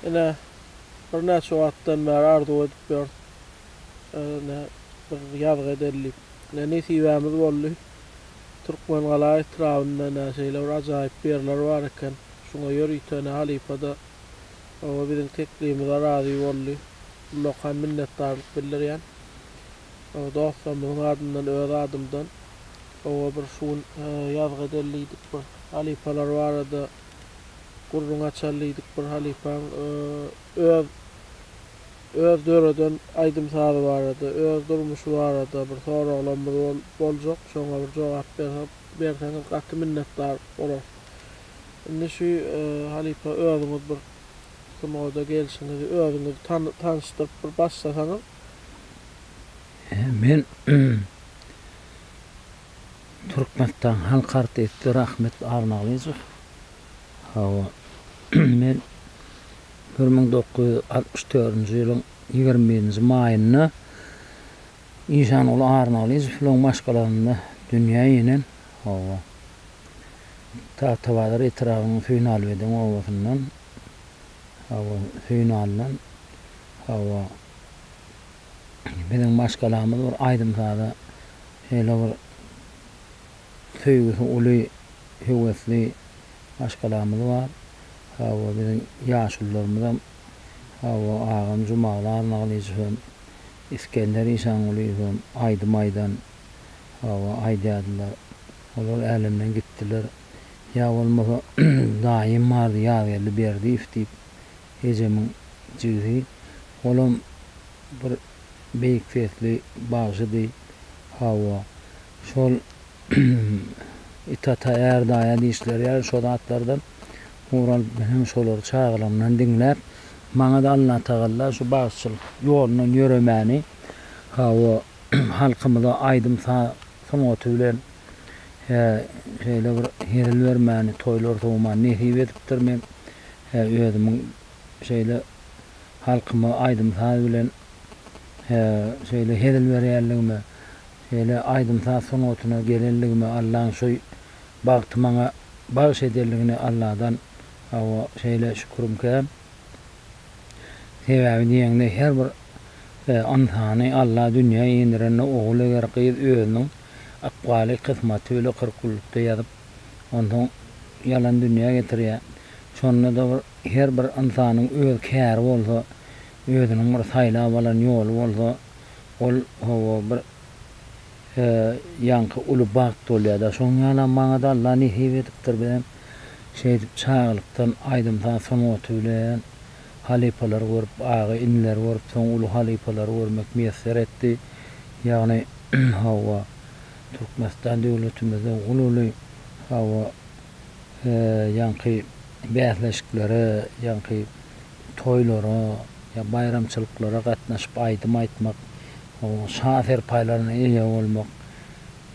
Ine, birnäçe wagtdan bäri arzuw edip ýörüs. Ine, bir ýazgy edeli diýip. Ine, nesibämiz boldy. Türkmengala etrabynda, ine, şeýle bir ajaýyp ýerler bar eken. Şuňa ýörite, ine, halypa-da, oba biziň teklibimize razy boldy. Ullakan minnetdarlyk bildirýän. dostlarymyzyň adyndan, öz adymdan, oba bir şu gün ýazgy edeliýdik, bir halypalar barada gürrüň açalyýdik, bir halypaň öz öz döreden aýdym-sazy barada, öz durmuşy barada bir soraglarymyz boljak, şoňa bir jogap berseňiz gaty minnetdar bolarys. Indi şu halypa özüňiz bir sungat gelşiňizi özüňizi tanyşdyryp bir başlasaňyz. Men Türkmenistan halk artisti Rahmet Arnalyjow. Hawa, men bir müň dokuz ýüz altmyş dördünji ýylyň ýigrimi birinji maýynda Işanguly Arnalyjow bilen maşgalasynda dünýä inen. Hawa, Tagtabazar etrabynyň Söýünalybeden obasyndan. Hawa, Söýünalydan. Hawa. Biziň maşgalamyz bir aýdym-saza şeýle bir söýgüsi uly, höwesli maşgalamyz bar. Hawa, biziň ýaşulularymyzam, hawa, agam Jumagul Arnagylyjow hem, Isgender Işangulyýew hem aýdym aýdan, hawa, aýdýardylar. Olar älemden gitdiler. Ýa bolmasa daýym bardy Ýazgeldi Berdiýew diýip. Ejemiň jigsi, olam bir beýik sesli bagşydy. Hawa, şol Itata är daýa diýişleri ýaly şo zatlardan ugur alyp men hem şolary çagalygymdan diňläp, maňa-da Allatagalla şu bagşyçylyk ýolundan ýöremäni, hawa, halkymyza aýdym-saz sungaty bilen şeýle bir hezil bermäni, toýlar sowmany nesip edipdir. Men Hä özümiň şeýle halkyma aýdym-saz bilen hä şeýle hezil berýänligime, şeýle aýdym-saz sungatyna gelenligime Allaň şu bagty maňa bagyş edenligine Alladan hawa şeýle şükürim kän. Sebäbi diýeňde her bir ynsany Alla dünýä inderende ogul eger gyz özüniň ykbaly kysmaty bile kyrk günlükde ýazyp Onsoň ýalan dünýä getirýär. Şonda-da bir her bir ynsanyň öz käri bolsa, özüniň bir saýlap alan ýoly bolsa, ol, hawa, bir ýaňky uly bagt bolýar-da. Şonuň ýalam maňa-da Alla nesip edipdir. Biz hem şeýdip çagalykdan aýdym-saz sungaty bilen halypalary görüp, aga-inileri görüp, soň uly halypalary görmek miýesser etdi. Ýagny, hawa. Türkmenistan döwletimizde uly uly hawa ýaňky bäsleşiklere ýaňky toýlara ýa baýramçylyklara gatnaşyp aýdym aýtmak şa serpaýlaryna eýe bolmak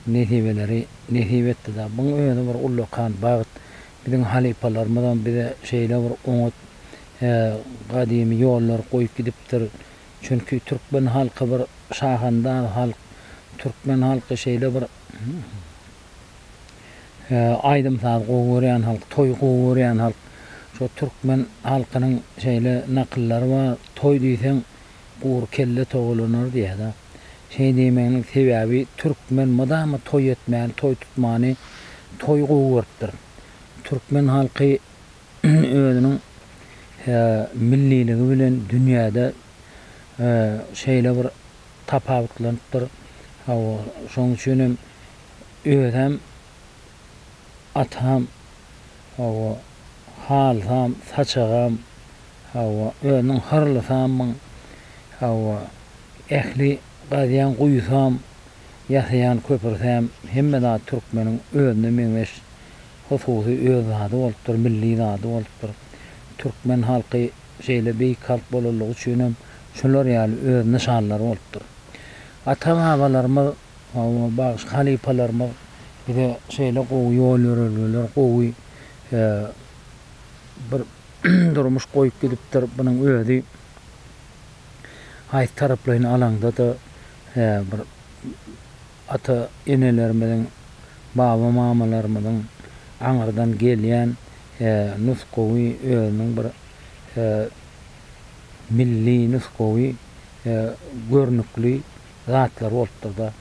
nesibeleri nesip etdi da buň özi bir ullakan bagt biziň halypalarymyzam bize şeýle bir oňat gadymy ýollary goýup gidipdir Çünki türkmen halky bir şahandaz halk. Türkmen halky şeýle bir aýdym-saz gowy görýän halk, toý gowy görýän halk. Şo türkmen halkynyň şeýle nakyllary bar, Toý diýseň, gury kelle towalanar diýýär-dä. Şeý diýmeginiň sebäbi türkmen mydama toý etmäni, toý tutmany, toýy gowy görüpdir. Türkmen halky. özüniň milliligi bilen dünýäde şeýle bir tapawutlanypdyr. Hawa, şonuň üçin hem özem, atam, hawa, halysam, saçagam, hawa, özüniň hyrlysamyň, hawa, ähli gazýan guýusam, ýasaýan köprüsem, hemme zat türkmeniň özüne meňzeş Hususy öz zady bolupdyr, milli zady bolupdyr. Türkmen halky şeýle beýik halk bolanlygy üçin hem şular ýaly öz nyşanlary bolupdyr. Ata-babalarymyz, bagşy halypalarymyz bize şeýle gowy ýol-ýörelgeler, gowy bir durmuş goýup gidipdir. Munuň özi haýsy taraplaýyn alaňda-da bir ata-enelerimiziň, baba-mamalarymyzyň aňyrdan gelýän nusgawy özüniň bir milli nusgawy görnükli zatlary bolupdyr-da.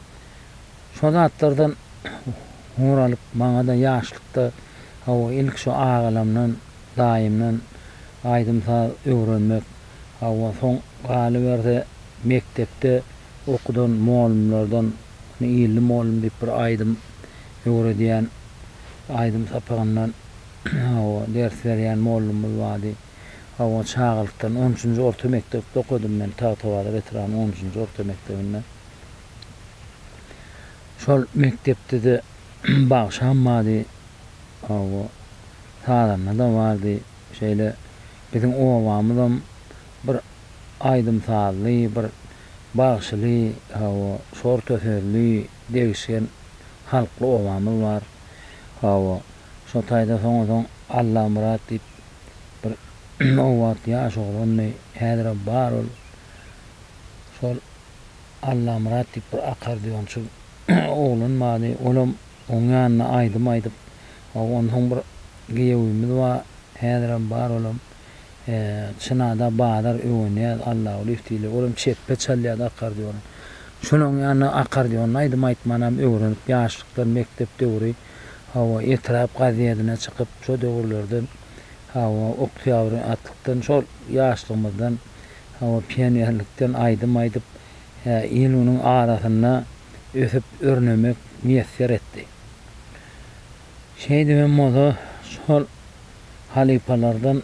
Şo zatlardan ugur alyp, maňa-da ýaşlykda hawa, ilki şo agalamdan, daýymdan aýdym-saz öwrenmek, Hawa, soň galyberse, mekdepde okudan molumlardan Ony illi molum diýip bir aýdym öwredýän aýdym sapagyndan hawa, ders berýän molumyz bardy. Hawa, çagalykdan on üçünji orta mekdepde okadym men Tagtabazar etrabynyň on üçünji orta mekdebinde. Şol mekdepde-de bagşam bardy. Hawa, sazanda-da bardy. Şeýle Biziň obamyzam bir aýdym-sazly, bir bagşyly, hawa, şorta sözli, degişgen halkly obamyz bar. Hawa, şo taýda soňa-soň Allamyrat diýip bir o wagt ýaş oglandy, häzirem bar ol. Şol Allamyrat diýip bir akkordeonçy oglan bardy, olam oň ýanynda aýdym aýdyp, Hawa onsoň bir giýewimiz bar häzirem bar olam Çynada bazar öwenýäs Allagulyýew diýilýär olam çepbe çalýardy akardiony şonuň ýanyna akardiony aýdym aýtmanam öwrenip ýaşlykdan mekdep döwri hawa etrap gazedine çykyp şo döwürlerden hawa oktýabr atlykdan şol ýaşlygymyzdan hawa pionerlikden aýdym aýdyp il-günüň arasynda ösüp örnemek miýesser etdi. Şeýdip hem bolsa, şol halypalardan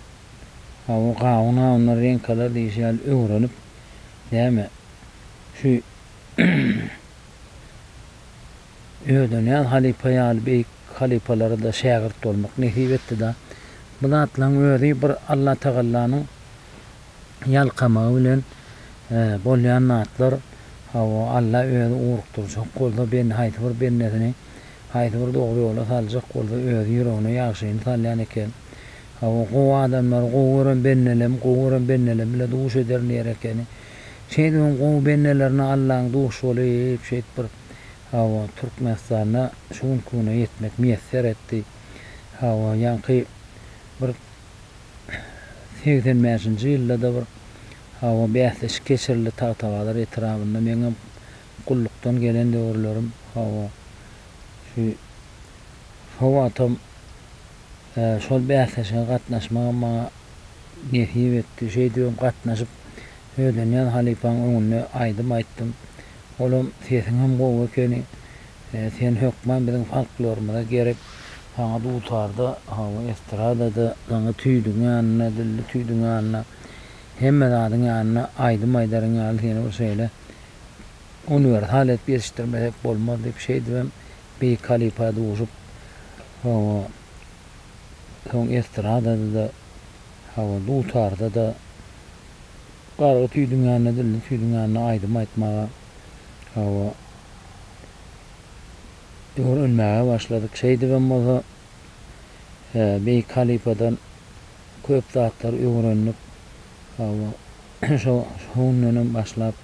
bu gawun awunlar, reňkalar diýşi ýaly öwrenip, näme, şu Ödenýaz halypa ýaly beýik halypalara-da şägirt bolmak nesip etdi-de, bu zatlaryň özi bir Allatagallanyň ýalkamagy bilen bolýan zatlar, hawa, Alla Özi ugrukdyrjak bolsa, ben, haýsy bir bendesini haýsy bir dogry ýola saljak bolsa, Özi ýüregine ýagşyny salýan eken. Hawa, gowy adamlary gowy gören bendelem, gowy gören bendelem bile duş eder diýer ekeni. Şeýdip hem gowy bendelerine Allaň duş bolup, şeýdip bir, hawa, Türkmenistanda şu günki güne ýetmek miýesser etdi. Hawa, ýaňky bir. segsen bäşinji ýylda-da bir hawa bäsleşik geçirildi Tagtabazar etrabynda. Meňem gullukdan gelen döwürlerim hawa şu şo wagtam şol bäsleşige gatnaşmagam maňa nesip etdi. Şeýdibem gatnaşyp Ödenýaz halypaň öňünde aýdym aýtdym. Olam sesiňem gowy ekeni. Sen hökman biziň folklorymyza gerek. Saňa dutarda, hawa, estradada, saňa tüýdüň ýanynda, dilli tüýdüň ýanynda, hemme zadyň ýanynda aýdym aýdaryň ýaly seni bir şeýle uniwersal edip ýetişdirmesek bolmaz diýip, şeýdibem beýik halypa duşup, hawa, soň estradada-da, hawa, dutarda-da, gargy tüýdüň ýanynda, dilli tüýdüň ýanynda aýdym aýtmaga. Hawa, öwrenmäge başladyk. Şeýdibem bolsa, beýik halypadan köp zatlary öwrendik. Hawa, şo gündenem başlap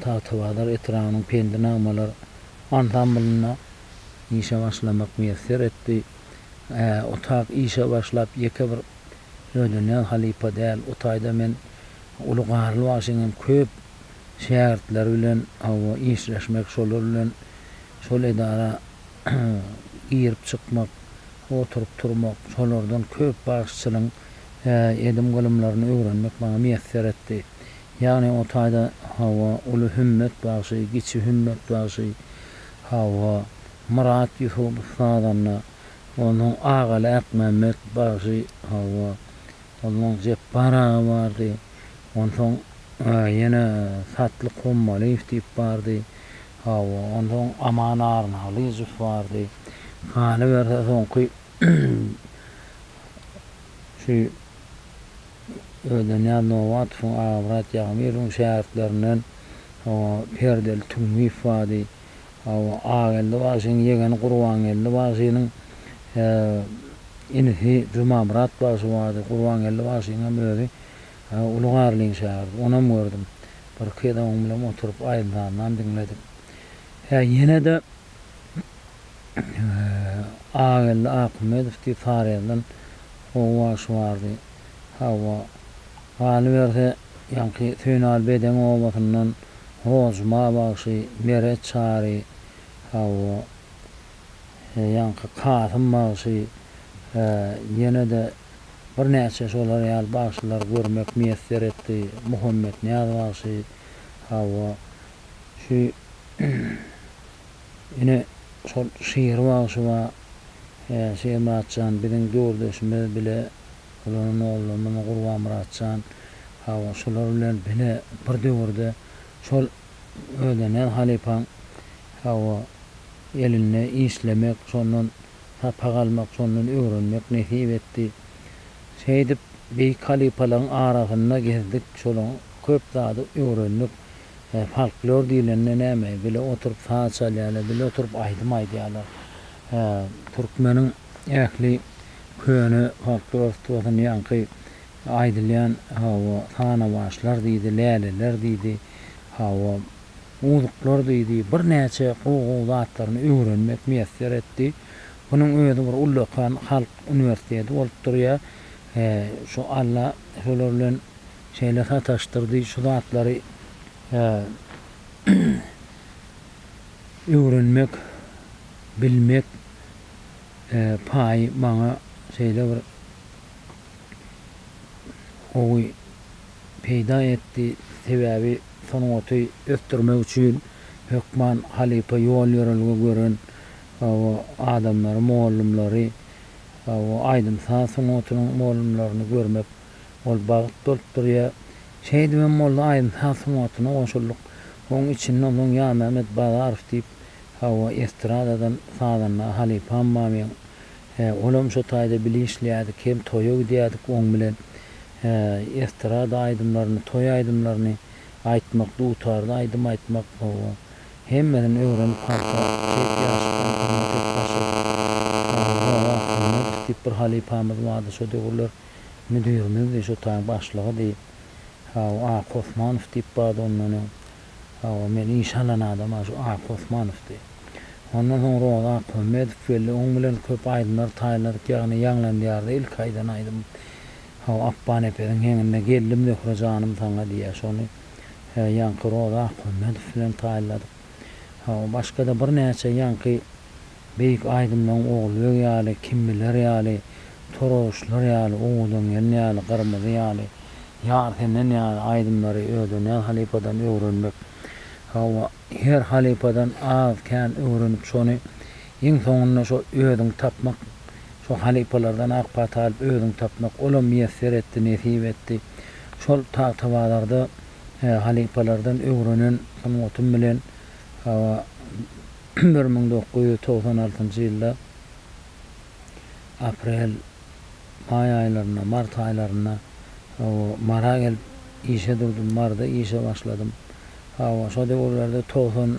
Tagtabazar etrabynyň Pendi nagmalar ansamblynda işe başlamak miýesser etdi. Otak işe başlap, ýeke bir. Öýlenýän halypa däl. O taýda men uly Garly bagşynyň köp şägirtleri bilen hawa işleşmek, şolar bilen şol edara girip çykmak, oturyp turmak, şolardan köp bagşyçylygyň edim-gylymlaryny öwrenmek maňa miýesser etdi. Ýagny o taýda hawa uly Hümmet bagşy, kiçi Hümmet bagşy, hawa Myrat Ýusupow sazanda Onuň agaly Akmämmet bagşy, hawa, onuň Jepbar aga bardy. Onsoň ýene Satlyk Hommalyýew diýip bardy. Hawa, onsoň Aman Arnalyjow bardy. Galyberse soňky şu Öweznyýaz Nobatowyň, Agabrat Ýagmyrowyň şägirtlerinden, hawa, Perdeli Tüňňiýew bardy. Hawa, Ageldi bagşynyň ýegeni Gurbangeldi bagşynyň inisi Jumamyrat bagşy bardy. Gurbangeldi bagşynyň hem özi Uly Garlyň şägirdi. Onam gördüm. Birki gezek oň bilen oturyp aýdym-sazynam diňledik. Hä, ýene-de Ageldi Akymmedow diýip Sarahyldan oba bagşy bardy. Hawa, galyberse, Ýaňky Söýünaly Bedeň obasyndan Hojma bagşy, Meret Çary, hawa, ýaňky Kasym bagşy, ýene-de birnäçe şolar ýaly bagşylary görmek miýesser etdi. Muhammetnyýaz bagşy, hawa, şu ine şol Şir bagşy bar, Şirmyratjan biziň döwürdeşimiz bile olaryň ogullar muny Gurbanmyratjan, hawa, şular bilen bile bir döwürde şol özene halypaň, hawa, elinde işlemek, şondan sapak almak, şondan öwrenmek nesip etdi. Şeýdip, beýik halypalaryň arasynda gezdik, şolaryň köp zady öwrendik. Folklor diýlende näme? Bile oturyp saz çalýarlar, bile oturyp aýdym aýdýarlar. Türkmeniň Ähli köne halk dost bolsun ýaňky aýdylýan hawa sanawaçlar diýdi läleler diýdi hawa uduklar diýdi birnäçe gowy gowy zatlaryny öwrenmek miýesser etdi bunuň özi bir ullakan halk uniwersiteti bolup durýa he şu Alla şolar bilen şeýle sataşdyrdy şu zatlary he öwrenmek bilmek paýy maňa şeýle bir gowy peýda etdi, sebäbi sungaty ösdürmek üçin hökman halypa ýol-ýörelge gören adamlary, mugallymlary, aýdym-saz sungatynyň mugallymlaryny görmek ol bagt bolup durýar. Şeýdip hem boldy, aýdym-saz sungatyna goşuldyk. Onuň içinde onsoň Ýamämmet Bazarow diýip, Hawa, estradadan sazanda halypam bar meň. He, olam şo taýda bile işleýärdik, hem toýa gidýärdik oň bilen. He, estrada aýdymlaryny, toý aýdymlaryny aýtmak, dutarda aýdym aýtmak, hawa, hemmesini öwrenip halka beýik ýaşdan hyzmat edip başladyk. Hawa, Wagtymyz diýip bir halypamyz bardy şo döwürler, müdirimizdi, şo taýyň başlygydy. Hawa, Aky Osmanow diýip bardy ondan öň. Hawa, men işe alan adam-a şu Aky Osmanowdy. Ondan soň Roza Akmuhammedow geldi. Oň bilen köp aýdymlar taýynladyk, ýagny ýaňlan diýarda ilki aýdan aýdymym. Hawa, Akbanepesiň heňinde Geldim Zöhre janym saňa diýýär. Şony ýaňky Roza Akmuhammedow bilen taýynladyk. Hawa, başga-da birnäçe ýaňky. Beýik aýdymlaryň Ogulbeg ýaly, Kim biler ýaly, Torauşlar ýaly, Owadan gelin ýaly, Gyrmyzy ýaly, Ýar senden ýaly aýdymlary Ödenýaz halypadan öwrenmek, hawa, her halypadan az-kän öwrenip şony iň soňunda şo özüňi tapmak, şo halypalardan ak pata alyp özüňi tapmak, olam miýesser etdi, nesip etdi. Şol tagtabazarda halypalardan öwrenen sungatym bilen, hawa, bir müň dokuz ýüz togsan altynjy ýylda aprel, maý aýlarynda, mart aýlarynda hawa, Mara gelip işe durdum. Marda işe başladym. Hawa, şo döwürlerde togsan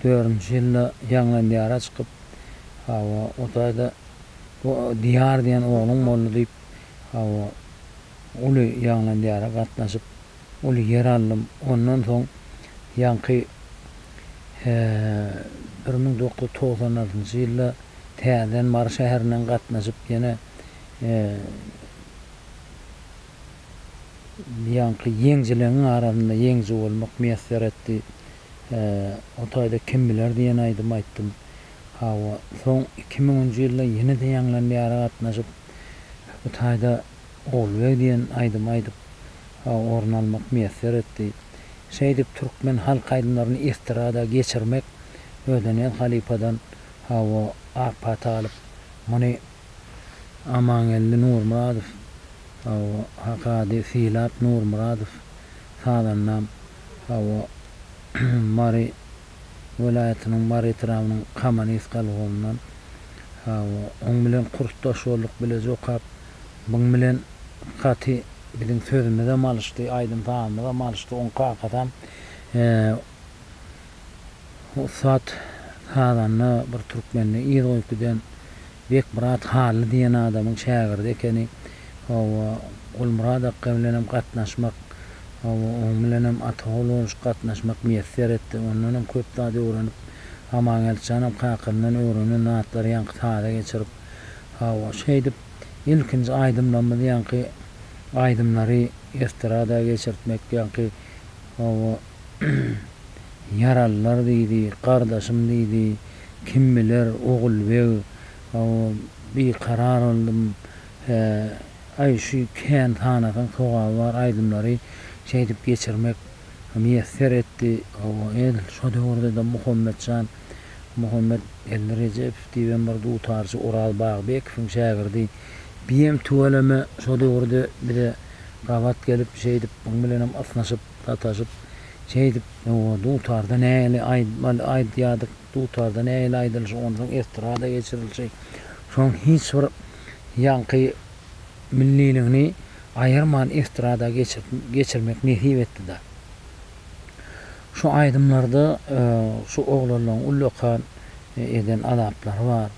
dördünji ýylda Ýaňlandiýara çykyp, hawa, o taýda bu Diýar diýen ogluň boldy diýip, hawa, uly ýaňlan ýara gatnaşyp, uly ýer aldym. Ondan soň ýaňky bir müň dokuz ýüz togsan altynjy ýylda täzeden Mary şäherinden gatnaşyp, ýene ýaňky ýeňjileňiň arasynda ýeňji bolmak miýesser etdi. O taýda kim biler diýen aýdymy aýtdym. Hawa, soň iki müňünji ýylda ýene-de ýaňlan ýara gatnaşyp, bu taýda Ogulbeg diýen aýdym aýdyp, orun almak miýesser etdi. Şeýdip, türkmen halk aýdymlaryny estrada geçirmek Ödeniýaz halypadan, hawa, ak pata alyp, muny Amangeldi Nurmyradow, hawa, Hakady Sylap Nurmyradow, sazandam, hawa, Mary welaýatynyň Mary etrabynyň Kamanysk alhomyndan oň bilen kursdaş bolduk, bile jokap byň bilen gaty biziň sözümizem alyşdy, aýdym sazymyzam alyşdy, oň kakasam ussat sazanda bir türkmende yz goýup giden Bekmyrat Hally diýen adamyň şägirdi ekeni. Hawa, Gulmyrat akga bilenem gatnaşmak, hawa, oň bilenem ata-ogul bolşup gatnaşmak miýesser etdi. Ondanam köp zat öwrenip, Amangeldi janam kakasyndan öwrenen zatlary ýaňky saza geçirip, hawa, şeýdip, ilkinji aýdymlarymyzy ýaňky aýdymlary estrada geçirtmek, ýaňky, hawa, Ýaralylar diýdi, gardaşym diýdi. Kim biler, Ogulbeg, hawa, bikarar boldum. Hä, aý, şu Kän tanasyň sogaby bar aýdymlary şeýdip geçirmek miýesser etdi. Hawa, edil şo döwürde-de Muhammet jan, Muhammet Geldi Rejepow diýibem bir dutarçy Oraz Bagbekowyň şägirdi. Biem tüweleme şo döwürde bize gabat gelip, şeýdip, muň bilenem ysnyşyp, sataşyp, şeýdip, oba dutarda nähili aýdmaly aýdýardyk, dutarda nähili aýdylşy, onsoň estrada geçirilşi, şoň hiç bir ýaňky milliligini aýyrman estrada geçirmek nesip etdi-de. Şu aýdymlarda şu oglanlaryň ullakan eden azaplary bar.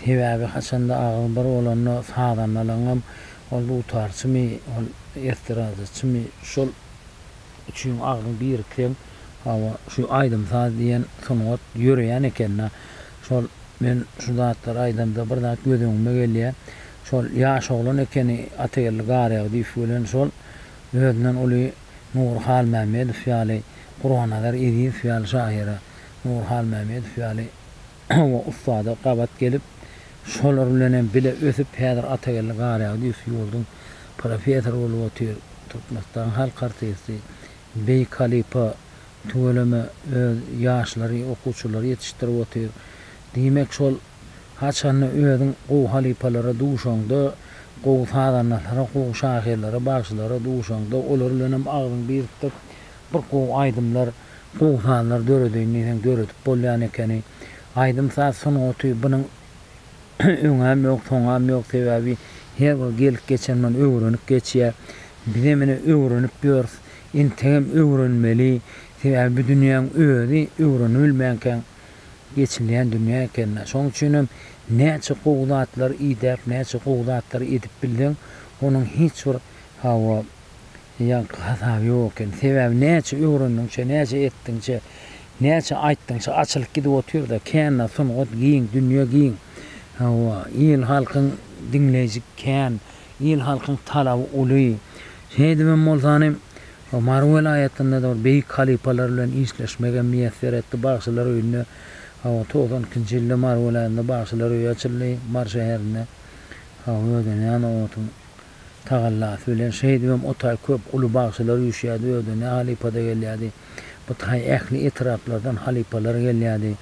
Sebäbi haçanda agyz bir bolanda sazandalaryňam Ol dutarçymy, ol estradaçymy, şol üçin agzyň birikseň, hawa, şu aýdym-saz diýen sungat ýöreýän eken-dä. Şol men şu zatlary aýdamda bir zat göz öňüme gelýär. Şol ýaş oglan ekeni Atageldi Garagdyýew bilen şol özünden uly Nury Halmämmedow ýaly, Gurbannazar Ezizow ýaly şahyra, Nury Halmämmedow ýaly, Hawa, ussada gabat gelip, şolar bilen hem bile ösüp, häzir Atageldi Garýagdy üst ýurduň professory bolup otyr. Türkmenistanyň halk artisti, beýik halypa tüweleme öz ýaşlary, okuwçylary ýetişdirip otyr. Diýmek, şol haçanda özüň gowy halypalara duşaňda, gowy sazandalara, gowy şahyrlara, bagşylara duşaňda, olar bilen hem agzyňy birikdirip, bir gowy aýdymlar, Gowy sazlar döredeýin diýseň döredip bolýan ekeni. Aýdym-saz sungaty bunuň öňem ýok, soňam ýok. Sebäbi her bir gelip geçen muny öwrenip geçýär. Bizem ine öwrenip ýörüs. Entegem öwrenmeli. Sebäbi bu dünýäň özi öwrenibilmänkäň geçilýän dünýä ekeni. Şonuň üçinem näçe gowy zatlary idäp, näçe gowy zatlary edip bilseň, onuň hiç bir, hawa, Ýaňky hasaby ýok eken. Sebäbi näçe öwrendiňçe, näçe etdiňçe, näçe aýtdyňça açylyp gidip otyr-da, kände sungat giň, dünýe giň. Hawa, il-halkyň diňleýjik kän, il-halkyň talaby uly. Şeýdibem bolsany, Mary welaýatynda-da bir beýik halypalar bilen işleşmegem miýesser etdi. Bagşylar öýünde, hawa, togsan ikinji ýylda Mary welaýatynda Bagşylar öýi açyldy, Mary şäherinde. Hawa, özüne näme otuň. tagallasy bilen. Şeýdibem o taý köp uly bagşylar üýşýärdi, özde ne halypa-da gelýärdi. Bu taý ähli etraplardan halypalar gelýärdi.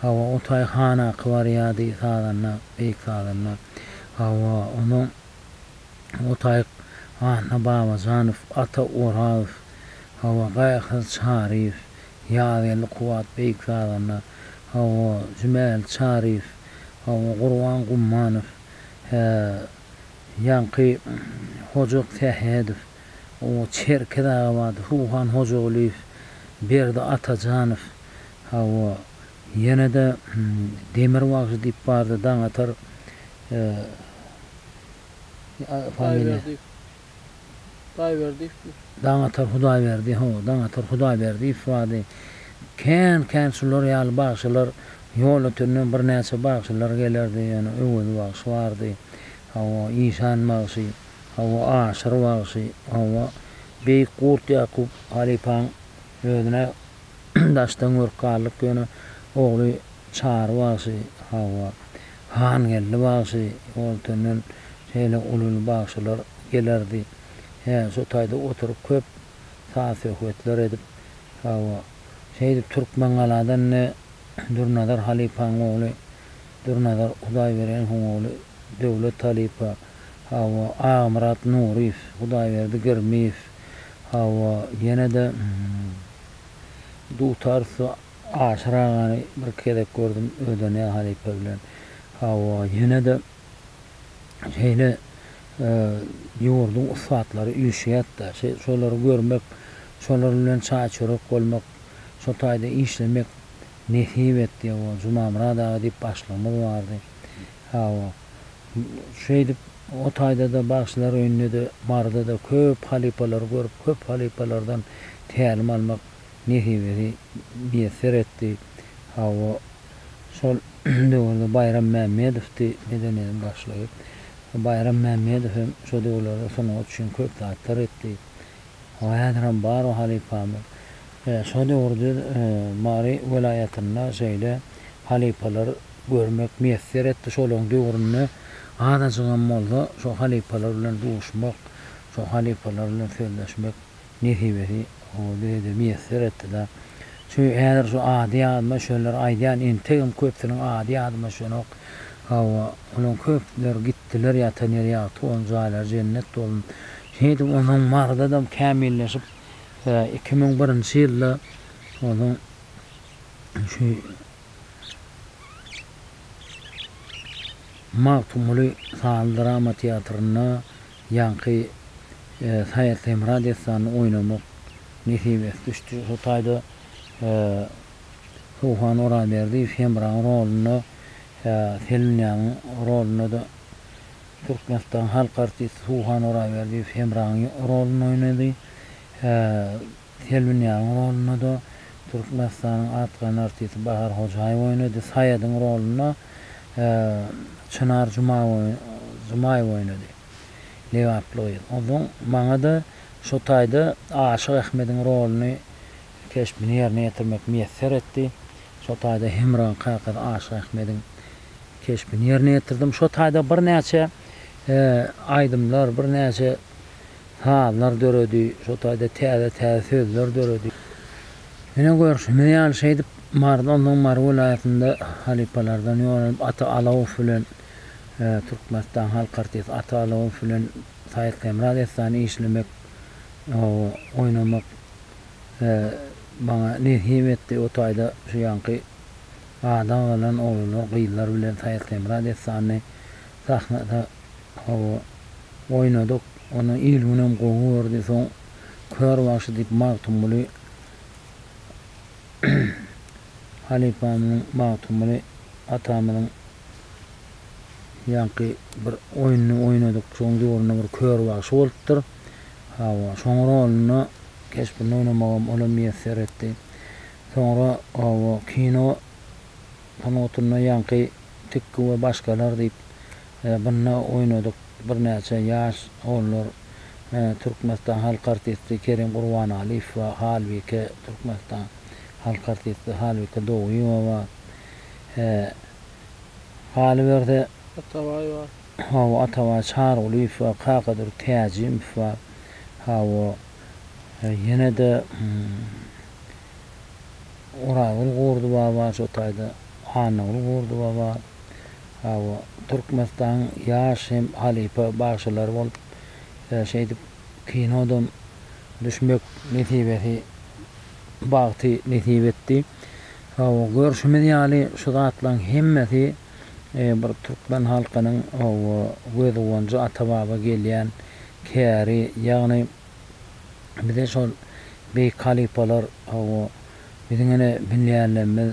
Hawa, o taý hanaky barýardy, sazanda, beýik sazanda. Hawa, onuň o taý Anna Babajanow, Ata Orazow, hawa, Gaýykyz Çaryýew, Ýazgeldi Kubat beýik sazanda, hawa, Jümäli Çaryýew, hawa, Gurban Gummanow, hä, Ýaňky Hoja Sähedow, Çerkez Agabadow, Ruhan Hojagulyýew, Berdi Atajanow, hawa, ýene-de Demir bagşy diýip bardy, Daňatar, familiýa. Hudaýberdiýew diýip. Daňatar Hudaýberdi, hawa, Daňatar Hudaýberdiýew bardy. Kän-kän şular ýaly bagşylar, ýol ötünden birnäçe bagşylar gelerdi, ýöne Öwez bagşy bardy, hawa, Işan bagşy, hawa, Aşyr bagşy, hawa, beýik Gurt Ýakup halypaň özüne daşdan görk galdyk, ýöne ogly Çary bagşy, hawa, Hangeldi bagşy goltünden şeýle ululy bagşylar gelerdi. Hä, şu taýda oturyp köp saz-söhbetler edip, hawa, şeýdip Türkmengaladan ne Dürnazar halypaň ogly Dürnazar Hudaýbereniň ogly Döwlet halypa, hawa, Agamyrat Nuryýew, Hudaýberdi Girmiýew, hawa, ýene-de dutar so. Aşyr agany bir gezek gördüm öde ne halypa bilen hawa ýenede şeýle ýurduň ussatlary üýşýätda şolary görmek şolar bilen çaý çörek bolmak şo taýda işlemek nesip etdi hawa Jumamyrat aga diýip başlygymyz bardy hawa şeýdip o taýdada bagşylar öýündede barydada köp halypalary görüp köp halypalardan tälim almak nesibesi miýesser etdi. Hawa, şol döwürde Baýram Mämmedowdy medeniýetiň başlygy. Baýram Mämmedow hem şo döwürlerde sungat üçin köp zatlar etdi. Hawa, häzirem bar o halypamyz. Şo döwürde Mary welaýatynda şeýle halypalar görmek miýesser etdi. Şolaryň döwründe azajygam bolsa şo halypalar bilen duşmak, şo halypalar bilen sözleşmek Nesibesi gowy derejede miýesser etdi-de. Çünki häzir şu ady ýadyma düşenler aýdýan entegem köpüsiniň ady ýadyma düşenok. Hawa, olaryň köpüleri gitdiler ýatan ýeri ýagty bolsun, jaýlary jennet bolsun. Şeýdip onuň Maryda-da kämilleşip, iki müň birinji ýylda onuň şu Magtymguly sanly drama teatrynda Ýaňky Saýat Hemra dessanyny oýnamak nesip et düşdi. Şo taýda Sowhan Oraberdiýew Hemraň rolunda Selinýanyň rolunda-da Türkmenistanyň halk artisti Sowhan Oraberdiýew Hemraň rolunda oýnady. Selbinýanyň rolunda-da Türkmenistanyň atgany artisti Bahar Hojaýewa oýnady. Saýadyň rolunda Çynar Jumaýewa oýnady. Lebaply gyz. Onsoň maňa-da şo taýda Aşyk Ahmediň roluny, keşbini ýerine ýetirmek miýesser etdi. Şo taýda Hemraň kakasy Aşyk Ahmediň keşbini ýerine ýetirdim. Şo taýda birnäçe aýdymlar, birnäçe sazlar döredi, şo taýda täze-täze sözler döredi. Ine, görşümiz ýaly, şeýdip, Maryda, ondan soň Mary welaýatynda halypalardan ýonulyp, Ata Alawow bilen, Türkmenistanyň halk artisti Ata Alawow bilen Saýyt Hemra dessany işlemek, oýnamak maňa nesip etdi. O taýda şu ýaňky ada galan oglanlar, gyzlar bilen Saýyt Hemra dessanyny sahnada Hawa, oýnadyk. Ony il-günem gowy gördi. Soň Kör bagşy diýip Magtymguly halypamyzyň, Magtymguly atamyzyň ýaňky bir oýnuny oýnadyk. Şoň döwründe bir Kör bagşy bolupdyr. Hawa, şoň rolunda, keşbinde oýnamagam ola miýesser etdi. Soňra, hawa, kino. Tanotynda ýaňky tikgi we başgalar diýip bynda oýnadyk birnäçe ýaş olar Türkmenistan halk artisti Kerim Gurbanaliýew we Halbike Türkmenistan halk artisti Halbike Doguýewa galyberse Atabaý bar. Hawa Atabaý Çarygulyýew we Kakadur Täjimow bar. Hawa ýene-de Oragül Gurdy baba şo taýda Annagül Gurdy baba hawa Türkmenistanyň ýaş hem halypa bagşylary bolup şeýdip kinodam düşmek nesibesi bagty nesip etdi. Hawa görşümiz ýaly şu zatlaryň hemmesi bir türkmen halkynyň hawa göz guwanjy ata baba gelýän käri ýagny Bize şol beýik halypalar hawa, biziň ene binýärlerimiz,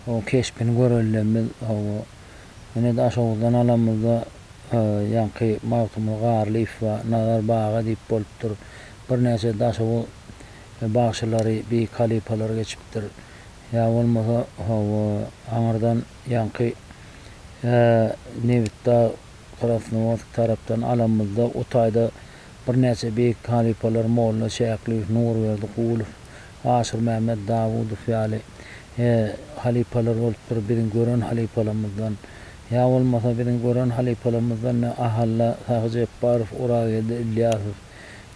o keşbini görenlerimiz hawa, ine Daşoguzdan alanymyzda ýaňky Magtymguly Garlyýew we Nazar Baga diýip bolupdyr. Birnäçe Daşoguz bagşylary, beýik halypalary geçipdir. Ýa bolmasa hawa, aňyrdan ýaňky Nebitdag, Krasnowodsk tarapdan alanymyzda o taýda Birnäçe beýik halypalar Molla Şäklyýew, Nurberdi Gulow, Aşyrmämmet Dawudow ýaly halypalar bolupdyr. Biziň gören halypalarymyzdan ýa bolmasa biziň gören halypalarymyzdan ne Ahalla Sahy Jepbarow, Orageldi Ylýasow,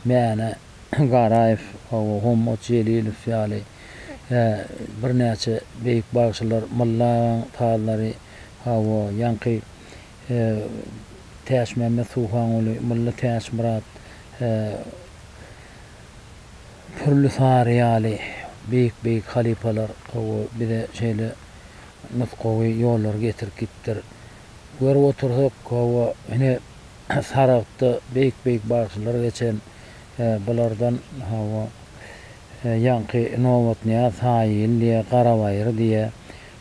Mäne Garaýew, Hommat Jelilow ýaly birnäçe beýik bagşylar, Mylla agaň sazlary, hawa, ýaňky He, Täçmämmet Suhanguly, Mulla Täçmyrat, he, Pürli Sary ýaly beýik-beýik halypalar gowy bize şeýle nusgawy ýollary getirip gitdiler. Görüp otursak, hawa, ine, Saragtda beýik-beýik bagşylar geçen, he, bulardan, hawa, he, ýaňky Nobatnyýaz Saýyl diýe, Garabaýyr diýe,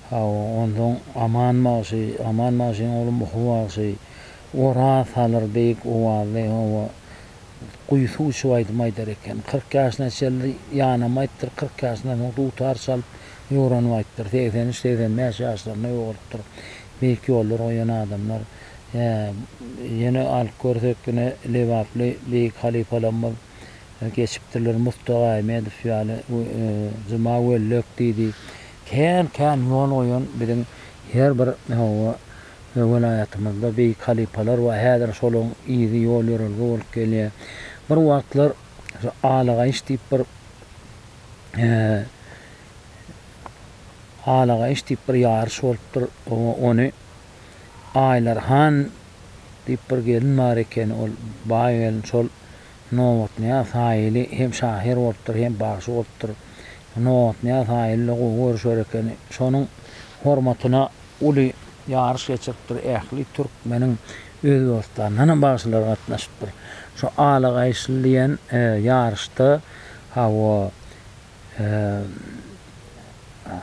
Hawa, onsoň Aman bagşy, Aman bagşyň ogly Muhy bagşy, Oraz salyr beýik owazly, hawa, guýysyk uçup aýdym aýdar eken. Kyrk ýaşyna çenli ýanam aýtdyr, kyrk ýaşyndan soň dutar çalyp ýoranym aýtdyr. Segsen üç, segsen bäş ýaşlarynda ýogalypdyr. Beýik ýollar goýan adamlar. Hä, ýene alyp görsek, ine, lebaply beýik halypalarymyz geçipdirler, Murtag Aýmedow ýaly, Juma Wellek diýdi. Kän-kän ýol goýan biziň her bir oba we welaýatymyzda beýik halypalar bar. Häzir şolaryň yzy ýol-ýörelge bolup gelýär. Bir wagtlar şu Alagaýyş diýip bir Alagaýyş diýip bir ýaryş bolupdyr. Ony Aýlar han diýip bir gelin bar ekeni. Ol baý gelin şol Nobatnyýaz Haýyly hem şahyr bolupdyr, hem bagşy bolupdyr. Nobatnyýaz Haýyly-da gowy görüşer eken. Şonuň hormatyna uly ýaryş geçiripdir. Ähli türkmeniň Özbegistandanam bagşylary gatnaşypdyr. Şu Ala gaýyşly diýen ýaryşda, hawa,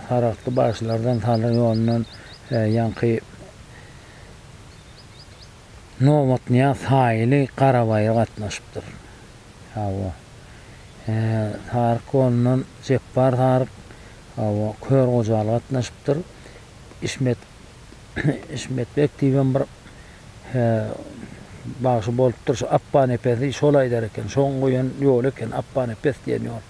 saragtly bagşylardan, Salyr ýolundan ýaňky. Nobatnyýaz Saýyly Garabaýa gatnaşypdyr. Hawa. Saryk golundan Jepbar Saryk, hawa, Kör Gojaly gatnaşypdyr. Ismet Ismet beg diýibem bir bagşy bolupdyr. Şu Apbanepesi şol aýdar eken. Şoň goýan ýoly eken, Apbanepes diýen ýol.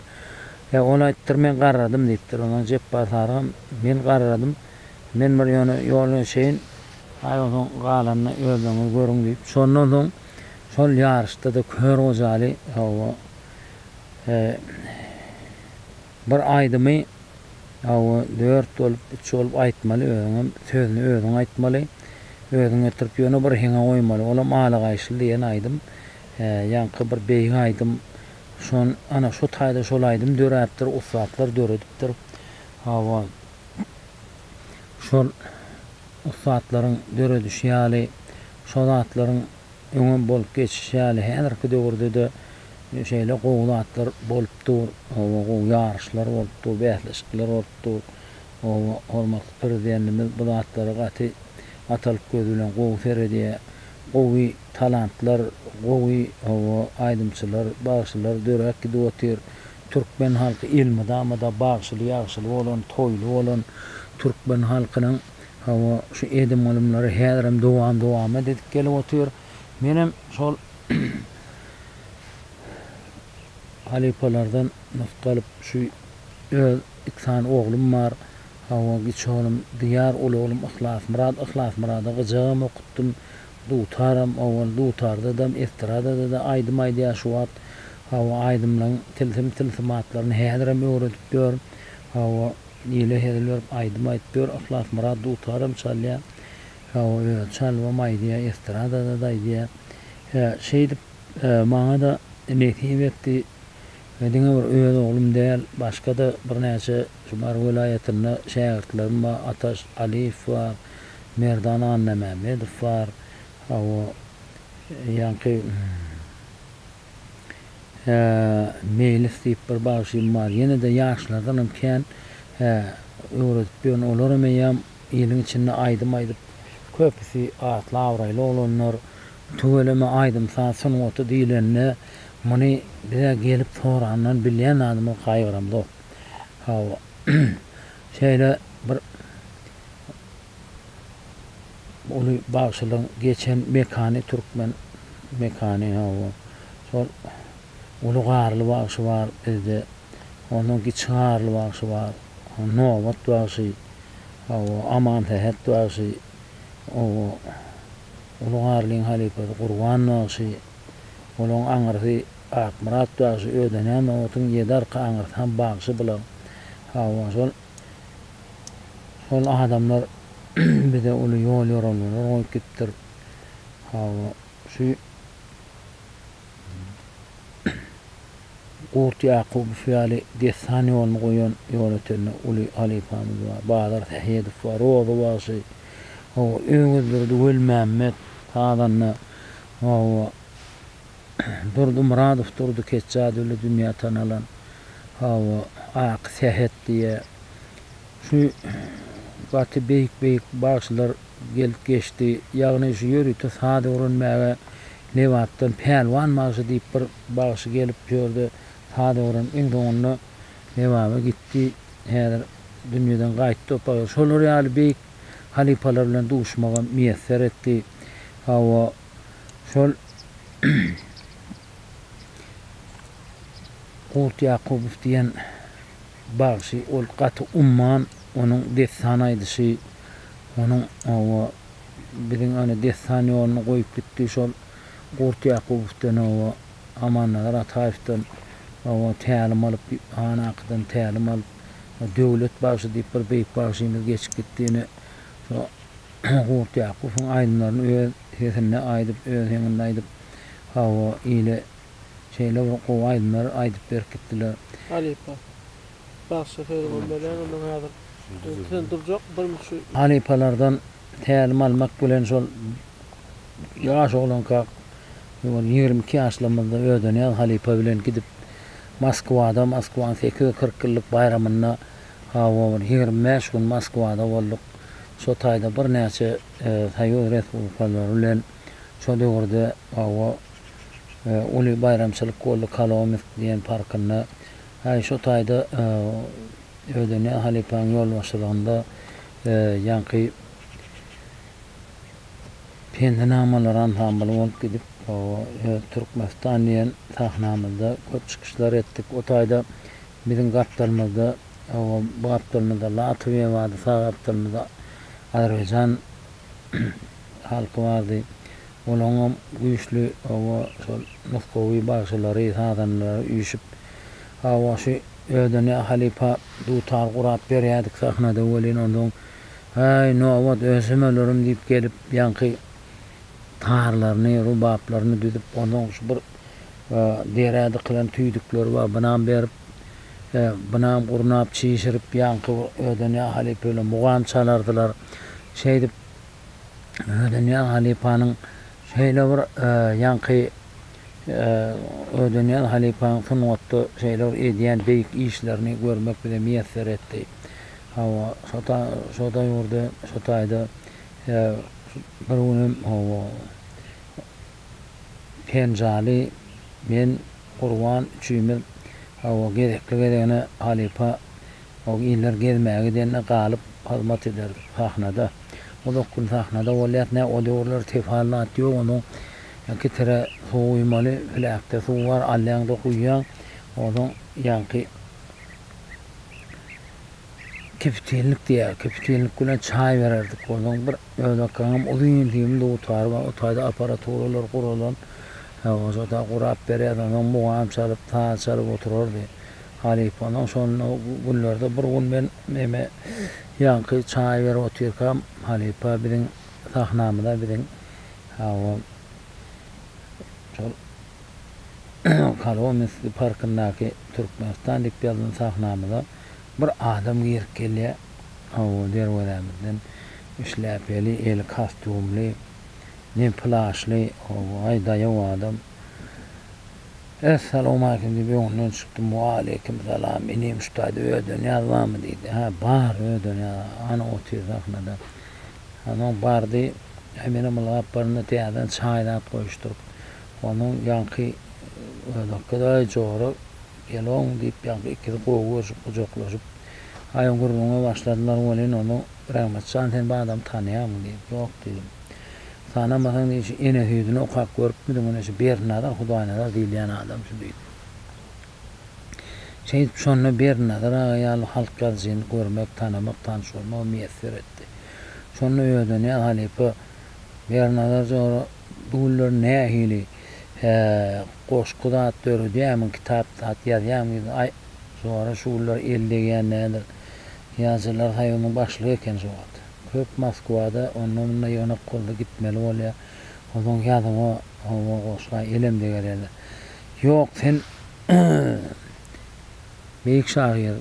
He, ol aýtdyr, men garradym diýipdir. Ondan Jepbar Sarygam, men garradym. Men bir ýöne ýola çenli Haý, onsoň galanyny özleriňiz görüň diýip, şondan soň şol ýaryşda-da Kör Gojaly hawa, bir aýdymy hawa, dört bolup, üç bolup aýtmaly, özüňem sözüni özüň aýtmaly, özüň getirip ýöne bir heňe goýmaly. Olam Ala gaýyşly diýen aýdym. Ýaňky bir beýik aýdym. Şon, ana, şu taýda şol aýdym döräpdir, ussatlar döredipdir. Hawa, şol. ussatlaryň döredişi ýaly, şo zatlaryň öňem bolup geçişi ýaly häzirki döwürde-de şeýle gowy zatlar bolup dur, hawa, gowy ýaryşlar bolup dur, bäsleşikler bolup dur. Hawa, hormatly Prezidentimiz bu zatlara gaty atalyk gözi bilen gowy seredýär. Gowy talantlar, gowy, hawa, aýdymçylar, bagşylar döräp gidip otyr. Türkmen halky elmydama-da bagşyly-ýagşyly bolan, toýly bolan türkmen halkynyň hawa şu edim-gylymlary häzirem dowam-dowamat edip gelip otyr. Menem şol halypalardan nusga alyp şu öz iki sany oglum bar. Hawa, kiçi oglum Diýar, uly oglum Yhlasmyrat. Yhlasmyrada gyjagam okutdym. Dutaram owal dutardadam estradadada aýdym aýdýar şu wagt hawa aýdymlaň tilsim tilsimatlaryny häzirem öwredip ýör hawa ile hezil berip aýdym aýdyp ýör Yhlasmyrat dutaram çalýa hawa özi çalybam aýdýa estradadada aýdýa hä şeýdip maňada nesip etdi We diňe bir öz oglum däl, başga-da birnäçe şu Mary welaýatynda şägirtlerim bar, Ataş Aliýew bar, Merdan Annamämmedow bar, hawa, ýaňky Hä, Meýlis diýip bir bagşym bar, ýene-de ýaşlardanam kän, hä, öwredip ýörün, olaram eýýäm. Iliň içinde aýdym aýdyp, köpüsi atly-abraýly oglanlar. Tüweleme aýdym-saz sungaty diýlende, muny bize gelip sorandan bilýän zadymyz gaýgyramzok. Hawa, şeýle bir uly bagşylygyň geçen mekany türkmen mekany, hawa, şol Uly Garly bagşy bar bizde. Onuň Kiçi Garly bagşy bar. Nobat bagşy. Hawa, Amansähet bagşy. Oba, Uly Garlyň halypasy Gurban bagşy. Olaň aňyrsy Akmyrat bagşy. Ödeňä Nobatyň ýedi arka aňyrsy hem bagşy bular. Hawa, şol şol adamlar bize uly ýol-ýorelgeler goýup gitdir. Hawa, şu. Gurt Ýakubow ýaly dessan ýoluny goýan ýolötende uly halypamyz bar. Bazar Sähedow bar, Roza bagşy, hawa, Öwezdurdy Welimämmet, sazanda, hawa, Durdy Myradow, Durdy Ketjadowly dünýä tanalan, hawa, Aky Sähet diýýär. Şu gaty beýik-beýik bagşylar gelip geçdi. Ýagny şu ýörite saz öwrenmäge Lebapdan Pälwan bagşy diýip bir bagşy gelip şu ýerde saz öwrenip iň soňunda Lebaba gitdi. Häzir dünýeden gaýtdy o bagşy. Şolar ýaly beýik halypalar bilen duşmagy miýesser etdi. Hawa, şol Gurt Ýakubow diýen. Bagşy ol gaty umman onuň dessan aýdyşy onuň oba biziň ony dessan ýoluna goýup gitdi şol Gurt Ýakubowdan oba Amannazar Ataýewden oba tälim alyp han akydan tälim alyp Döwlet bagşy diýip bir beýik bagşymyz geçip gitdi ine şo Gurt Ýakubowyň aýdymlaryny öz sesinde aýdyp öz heňinde aýdyp oba ile Şeýle bir gowy aýdymlar aýdyp berkitdiler. Halypa. Bagşy Ferman Belen ondan häzir sen durjak birmüçi. Halypalardan tälim almak bilen şol ýaş oglankak ýoly ýigrimi iki ýaşlarymyzda Ödenýaz halypa bilen gidip Moskwada Moskwanyň sekiz ýüz kyrk ýyllyk baýramynda hawa bir ýigrimi bäş gün Moskwada bolduk. Şo taýda birnäçe Soýuz Respublikalary bilen. Şo döwürde hawa, uly baýramçylyk boldy Kolomisk diýen parkynda. Häý, şo taýda Ödeniýaz halypaň ýolbaşçylygynda ýaňky Pendinamalar ansambly bolup gidip, hawa, öz Türkmenistan diýen sahnamyzda köp çykyşlar etdik. O taýda biziň gapdalymyzda, hawa, bu gapdalymyzda Latwiýa bardy, sag gapdalymyzda Azerbaýjan. halky bardy. Olaňam güýçli, hawa, şol nusgawy bagşylary, sazandalary üýşüp, hawa, şu ödene halypa dutar gurap berýärdik sahnada welin, onsoň, Häý, nobat, ösümelerim diýip gelip, ýaňky tarlaryny, rubaplaryny düzüp, onsoň şu bir derä dykylan tüýdükleri bar, bynam berip, bynam gurnap, çişirip, ýaňky ödene halypa bilen mugam çalardylar. Şeýdip. Ödenýaz halypanyň şeýle bir ýaňky Ödenýaz halypanyň sungatda şeýle bir edýän beýik işlerini görmek bize miýesser etdi. Hawa, şo daýurda, şo taýda bir günem hawa, Penjaly, men, Gurban üçimiz hawa gezekli-gezegine halypa Ol iller gezmä gidende galyp hyzmat eder sahnada. Uzak gün sahnada bolýas nä o döwürler tefal zat ýok onuň iki tire suw guýmaly plakda suw bar alýaňda guýýaň ozaň ýaňky kipitilnik diýýär kipitilnik bilen çaý bererdik ozaň bir özbekgaňam uzyn dim dutary bar o taýda aparaturalar guralan he oşa da gurap berýärdi ozaň mugam çalyp saz çalyp oturardy. Halypa, Onuň şonda günlerde bir gün men meme ýaňky çaý berip otyrkam, halypa biziň sahnamyza biziň hawa şol Kolomenskiý parkyndaky Türkmenistan diýip ýazylan sahnamyza bir adam girip gelýär. Hawa, derwezämizden şläpeli, eli kastýumly, ne plaşly, hawa, aý daýaw adam. Es salowmaleýkim diýip öňünden çykdym, Waleýkim salam, inim şu taýda ödenýaz barmy diýdi. Hä, bar, ödenýaz, ana otyr sahnada. Onsoň bardy, Eminem ylgap barynda täzeden çaý zat goýuşdyryp, onsoň ýaňky özbekge Aý jora, gelogmy diýip ýaňky ikisi gowy görşüp gujaklaşyp, aýan gürrüňe başladylar welin, onsoň Rehmetjan sen bu adamy tanaýarmyň diýip, ýok diýdim. Tanamasaň diýdi şu ene süýdüni okap görüpmidiň ine şu Berdinazar Hudaýnazar diýilýän adam şu diýdi. Şeýdip şonda Berdinazar aga ýaly halk ýazyjyny görmek tanamak tanyş bolmak miýesser etdi. Şonda Öwezanyýaz halypa Berdinazar jora bu günler nähili hä goşgy zat döredýämiň kitap zat ýazýaň diýdi aý jora şu günler el degýän nädir ýazyjylar soýuzynyň başlygy eken şu wagt. Köp Moskwada onda-munda ýygnak boldy, gitmeli bolýar. Onsoň ýazyňa howa goşlaý, elem degerýärler. Ýok, sen beýik şahyr.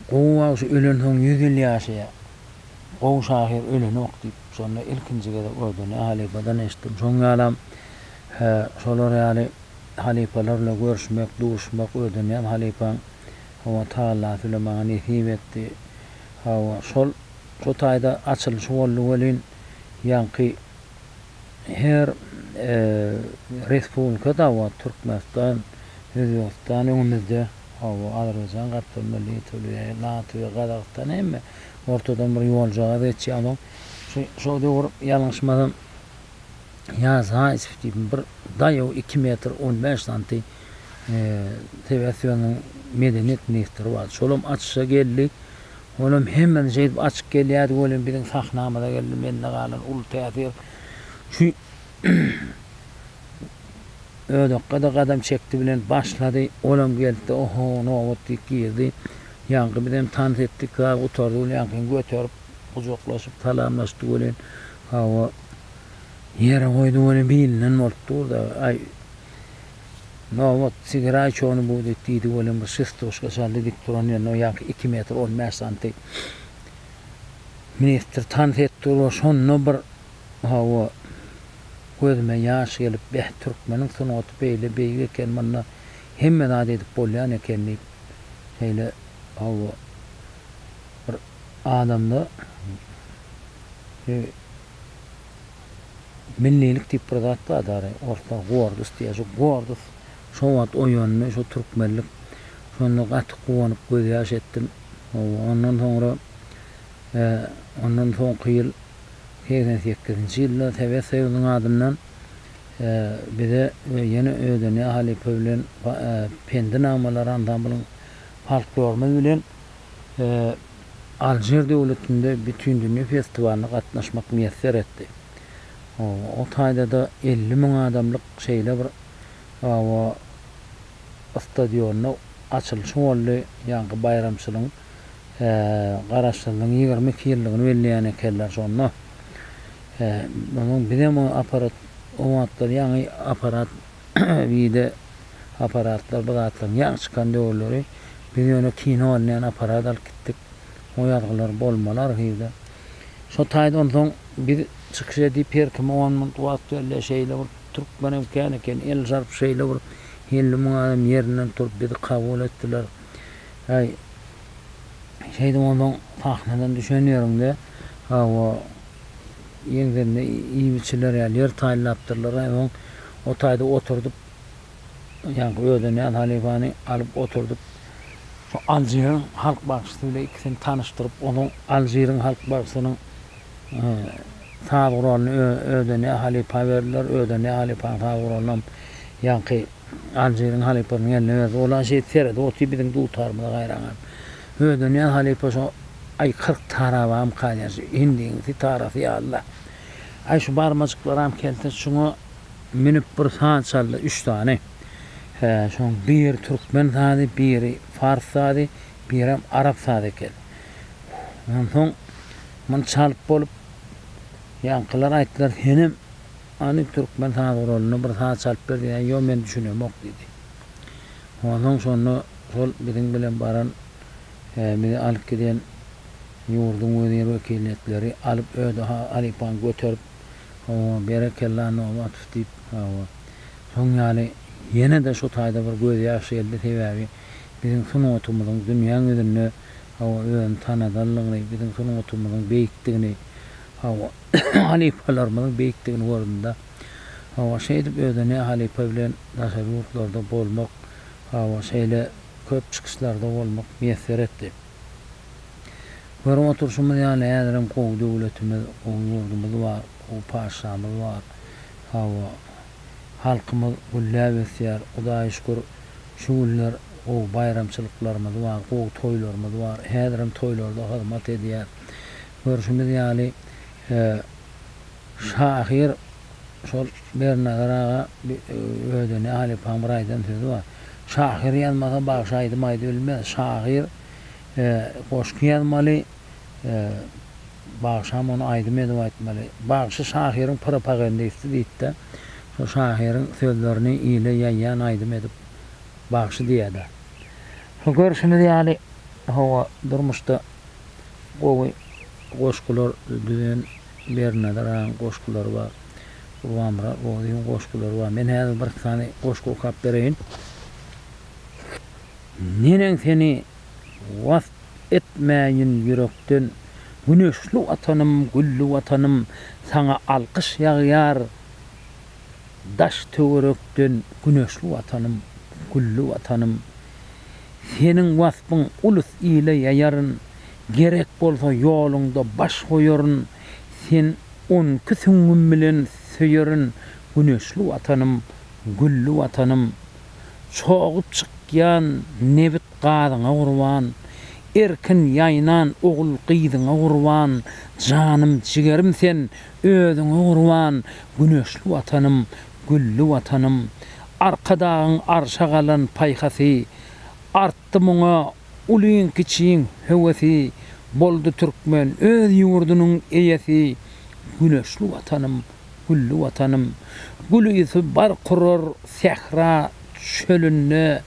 Gowy bagşy ölensoň ýüz ýyl ýaşaýar. Gowy şahyr ölenok diýip, şonda ilkinji gezek Ordony halypadan eşitdim. Şoň ýalam, şolar ýaly halypalar bilen görüşmek, duşmak öýdünýän halypaň Hawa Taala süle maňa nesip etdi. Hawa şol şu taýda açylyşy boldy welin ýaňky her respublika dawa Türkmenistan, Özbegistan öňümizde hawa Azerbaýjan gapdalynda Litwa, Latwiýa, Gazagystan hemme ortadan bir ýoljagaz geçýär onuň şo döwür ýalňyşmasam ýa zaýsw diýip bir daýaw iki metr on bäş santy Tibet-Ýunanyň medeniýet ministri bardy. Şolam açyşa geldi. Olam hemmeden şeýdip açyk gelýärdi welin biziň sahnamyza geldi. Mende galan uly täsir şu Ödekge-de gadam çekdi bilen başlady. Olam geldi-de, Oho, nobat diýip girdi. Ýaňky bizem tans etdik. Biraz gutardy welin ýaňkyny göterip, gujaklaşyp salamlaşdy welin, hawa, ýere goýdy welin bilinden bolup dur-da, aý, Nobat, sigiräý çony bu, diýip, diýdi welin bir şestuşka şärde dik duran ýerinde ýaňky iki metr on bäş santy ministr tans edip dur we şonda bir, hawa, gözüme ýaş gelip, beh, türkmeniň sungaty beýle beýik eken, munda hemme zat edip bolýan eken diýip, şeýle, hawa, bir adamda, Millilik diýip bir zat bar dary, orsda gordus diýýär. Şu gordus şo wagt oýandy, şu türkmenlik. Şonda gaty guwanyp gözýaş etdim. Hawa, ondan soňra ondan soňky ýyl segsen sekizinji ýylda Sowet Soýuzynyň adyndan bize we ýene Ödenýaz halypa bilen Pendi namalar ansamblyň folklorymyz bilen Alžir döwletinde Bütindünýä festiwalyna gatnaşmak miýesser etdi. O taýda-da elli müň adamlyk şeýle bir awa stadionda açylyşy boldy, ýaňky baýramçylygyň Garaşsyzlygyň ýigrimi iki ýyllygyny belleýän ekenler şonda. Onsoň bizem o apparat, o wagtlar ýaňy apparat Wideoapparatlar bu zatlaryň ýaňy çykan döwürleri biz ýöne kino alynýan apparat alyp gitdik. O ýazgylar bolmaly arhiwde. Şo taýda onsoň biz çykyş edip her kime on minut wagt berilýär şeýle bir türkmenem kän eken el zarp şeýle bir elli müň adam ýerinden turup bizi kabul etdiler. Aý şeýdip onsoň sahnadan düşen ýeriňde hawa Ýeňsinde iýmiçiler ýaly ýer taýynlapdyrlar-a, öň o taýda oturdyp, ýaňky özüne näz halypany alyp oturdyp, şo Aljiriň halk bagşysy bilen ikisini tanyşdyryp, onuň Aljiriň halk bagşysynyň saz guralyny özüne näz halypa berdiler, özüne näz halypanyň saz guralynam ýaňky. Aljiriň halypasynyň eline berdi. Ol-a şeýdip seredip otyr, biziň dutarymyza gaýraňam. Öýdenýän halypa şo, aý, kyrk tarabam kalýar, şu hindiň sitarasy ýaly-da. Aý, şu barmajyklaram keltir, şuňa münüp bir saz çaldy, üç sany. Hä, şoň biri türkmen sazy, biri pars sazy, birem arap sazy eken. Onsoň muny çalyp bolup, ýaňkylar aýtdylar, Senem Hany türkmen saz guralyndan bir saz çalyp ber diýýän, ýok men düşünemok diýdi. Onsoň şonda şol biziň bilen baran we bizi alyp giden ýurduň wezir wekiliýetleri alyp özi halypany göterip, hawa, berekella Nobatow diýip, hawa, şoň ýaly ýene-de şu taýda bir gözýaş geldi, sebäbi biziň sungatymyzyň dünýäň ýüzünde, hawa, özüni tanadanlygyny, biziň sungatymyzyň beýikdigini, hawa, halypalarymyzyň beýikdigini gördüm-de, Hawa, şeýdip özüne halypa bilen daşary ýurtlarda bolmak, hawa, şeýle köp çykyşlarda bolmak miýesser etdi. Görüp oturyşymyz ýaly, häzirem gowy döwletimiz, gowy ýurdumyz bar, gowy patyşamyz bar. Hawa, halkymyz gülläp ösýär. Hudaýa şükür, şu günler gowy baýramçylyklarymyz bar, gowy toýlarymyz bar. Häzirem toýlarda hyzmat edýär. Görşümiz ýaly, şahyr şol Bernazar aga özüne halypaň bir aýdan sözi bar. Şahyr ýazmasa bagşy aýdym aýdyp bilmez. Şahyr goşgy ýazmaly, bagşam ony aýdym edip aýtmaly. Bagşy şahyryň propagandisti diýipdi. Şo şahyryň sözlerini ile ýaýýan aýdym edip bagşy diýýäda. Şo görşümiz ýaly, hawa, durmuşda. Gowy goşgular düzen Bernazar agaň goşgulary bar. Gurbanmyrat Rozyň goşgulary bar. Men häzir bir iki sany goşgy okap bereýin. Neneň seni wasp etmäýin ýürekden Güneşli Watanym, gülli Watanym, saňa alkyş ýagýar. Daş-töwerekden güneşli Watanym, gülli Watanym, Seniň waspyň ulus ile ýaýaryn, Gerek bolsa ýoluňda baş goýaryn, Seni on iki süňňüm bilen söýerin, Güneşli Watanym, gülli Watanym. Çogup çykýan nebit-gazyňa gurban, Erkin ýaýnan ogul-gyzyňa gurban, Janym-jigerim sen, Özüňe gurban, güneşli Watanym, gülli Watanym! Arkadagyň arşa galan paýhasy, Artdy muňa ulyň-kiçiň höwesi, Boldy türkmen öz ýurdunyň eýesi, Güneşli Watanym, gülli Watanym! Gülüsi bar kurar sähra çölünde,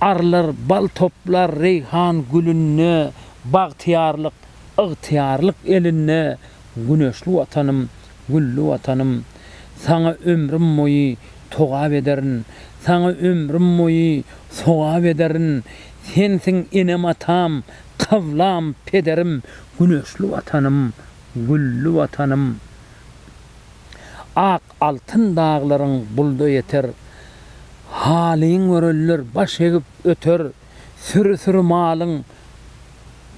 Arlar bal toplar reýhan gülünde, Bagtyýarlyk, ygtyýarlyk elinde, Güneşli Watanym, gülli Watanym, Saňa ömrüm boýy togap ederin, Saňa ömrüm boýy sogap ederin, Sensiň enem-atam, kyblam, pederim, Güneşli Watanym, gülli Watanym. Ak altyn daglaryň bulda ýeter, Halyň görenler baş egip öter, Süri-süri malyň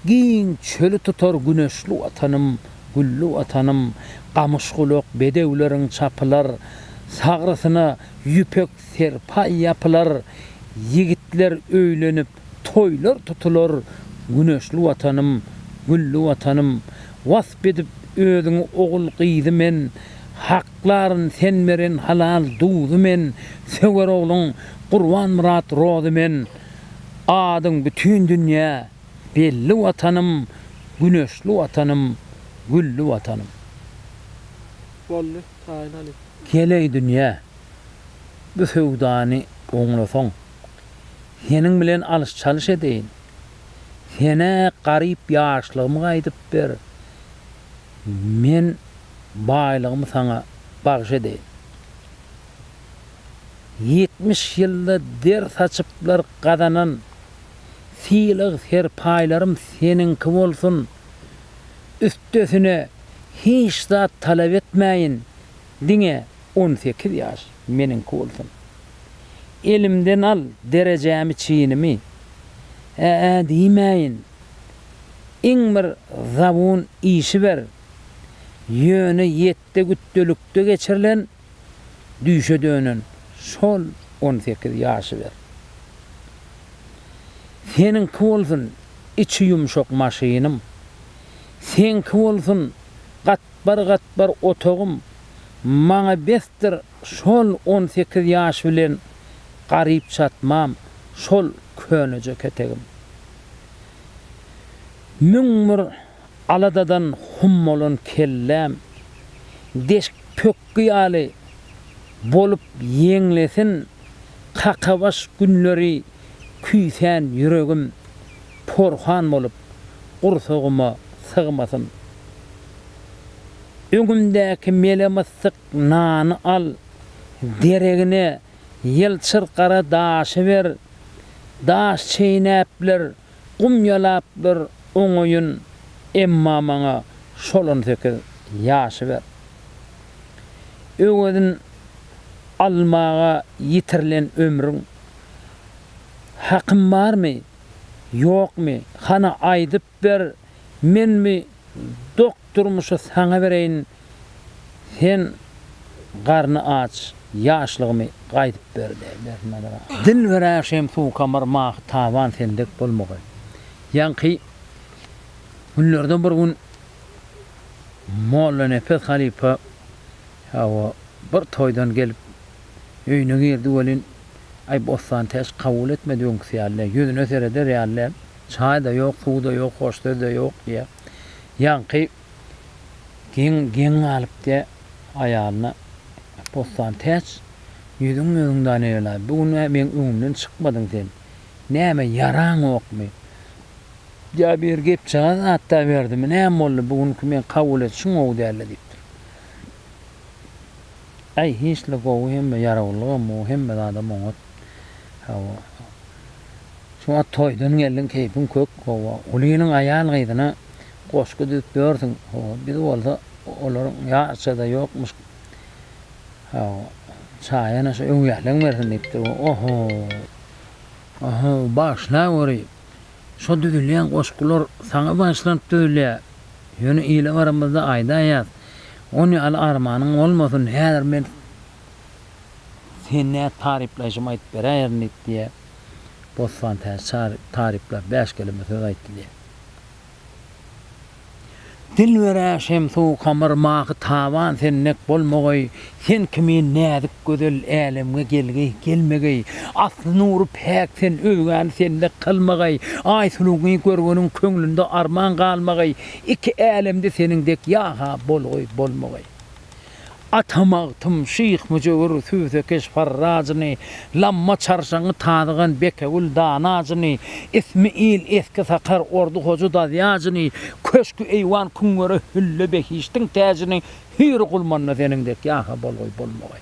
giň çöli tutar Güneşli Watanym, gülli Watanym, Gamyşgulak bedewleriň çapylar, Sagrysyna ýüpek serpaý ýapylar, Ýigitler öýlenip, toýlar tutular Güneşli Watanym, gülli Watanym, Wasp edip özüňi ogul-gyzy men Hak Klaryn sen beren halal duzy men söwer ogluň Gurbanmyrat rozy men Adyň bütin dünýä belli watanym Güneşli watanym gülli watanym. Boldy taýyn alyp. Geleý dünýä bu söwdany oňlasaň Seniň bilen alyş-çalyş edeýin Senä garyp ýaşlygymy gaýdyp ber Men baýlygymy saňa bagyş edeýin. Ýetmiş ýylda der saçyplar gazanan sylag-serpaýlarym seniňki bolsun, üstesine hiç zat talap etmäýin, diňe on sekiz ýaş meniňki bolsun. Elimden al derejämi-çinimi, ä-ä diýmäýin. iň bir zabun işi ber, ýöne ýetde gütdelikde geçirilen düýşe dönen şol on sekiz ýaşy ber. Seniňki bolsun içi ýumşak maşynym, seňki bolsun gatbar-gatbar otagym, maňa besdir Şol on sekiz ýaş bilen garyp çatmam şol köneje ketegim. Müň bir aladadan hum bolan kelläm deşik pökgi ýaly bolup ýeňlesin Kakabaş günleri küýsän ýüregim porhan bolup gursagyma sygmasyn. Öňümdäki mele-myssyk Nany al, deregine ýylçyr gara daşy ber, daş çeýnäpler, gum ýalaplar oňaýyn, emma maňa şol on sekiz ýaşy ber. Öwezin almaga ýitirilen ömrüň hakym barmy, ýokmy, hany aýdyp Ber, men bi dok durmuşy saňa bereýin, sen garny aç ýaşlygymy gaýdyp ber diýdi. Dilbere şem suwkamar mahy taban sen dek bolmagy. Ýaňky günlerde bir gün Mollanepes halypa hawa bir toýdan gelip öýüne girdi welin, aý Bossantäç kabul etmedi öňküsi ýaly däl, ýüzüne sereder ýaly däl. Çaý-da ýok, suw-da ýok, hoş söz-de ýok, diýýär. Ýaňky geň, geň galyp, diýýär aýalyna. Bossan täç, ýüzüň öňüň Danegelaý, bu gün-ä meň öňümden çykmadyň sen. Näme, ýaraňokmy? Ýa bir gepjagaz zat-da berdimi, näme boldy, bu günki meň kabul edişim gowy däldi, diýipdir. Äý, hiç-le gowy hemme ýarawullygam gowy, hemme zadam oňat. Hawa. Şu wagt toýdan geldiň, keýpiň kök. Hawa. Gulynyň aýal-gyzyna goşgy düzüp ýörsüň. Hawa. Biz bolsa olaryň ýaşy-da ýokmuş. Hawa. Çaýana şu öwýäleň bersin diýipdir. Oho. Oho, bagyşlaweri. Şu düzülýän goşgular saňa bagyşlanyp düzülýär. Ýöne ile baramyzda aýdaýas. Ony ýaly armanyň bolmasyn. Häzir men Sen nä taryplaýşymy aýdyp beräýerin diýip diýýär. Bossan täze taryplap bäş keleme söz aýtdy diýýär. Dilberä Şemsu Kamar mahy taban sen dek bolmageý, sen kimin näzik gözel älemge gelgeý, gelmegeý. Asly nury päk sen özgäni sen dek kylmageý, Aýsuluňy görgeniň köňlünde arman galmageý, iki älemde seniň dek ýa-ha bolgeý, bolmageý. Ata Magtym, Şyh Müjewür, Sübzekeş Farrazyny, Lamma Çarşaňy, Tazygan Bekewül Danajyny, Ismi il Eski Sakar, Ordy Hoja Dazýajyny, Köşki eýwan Küňwere Hülle Behiştiň täjini Hüýr Gulmanda seniň dek ýa-ha bolgaý bolmagaý.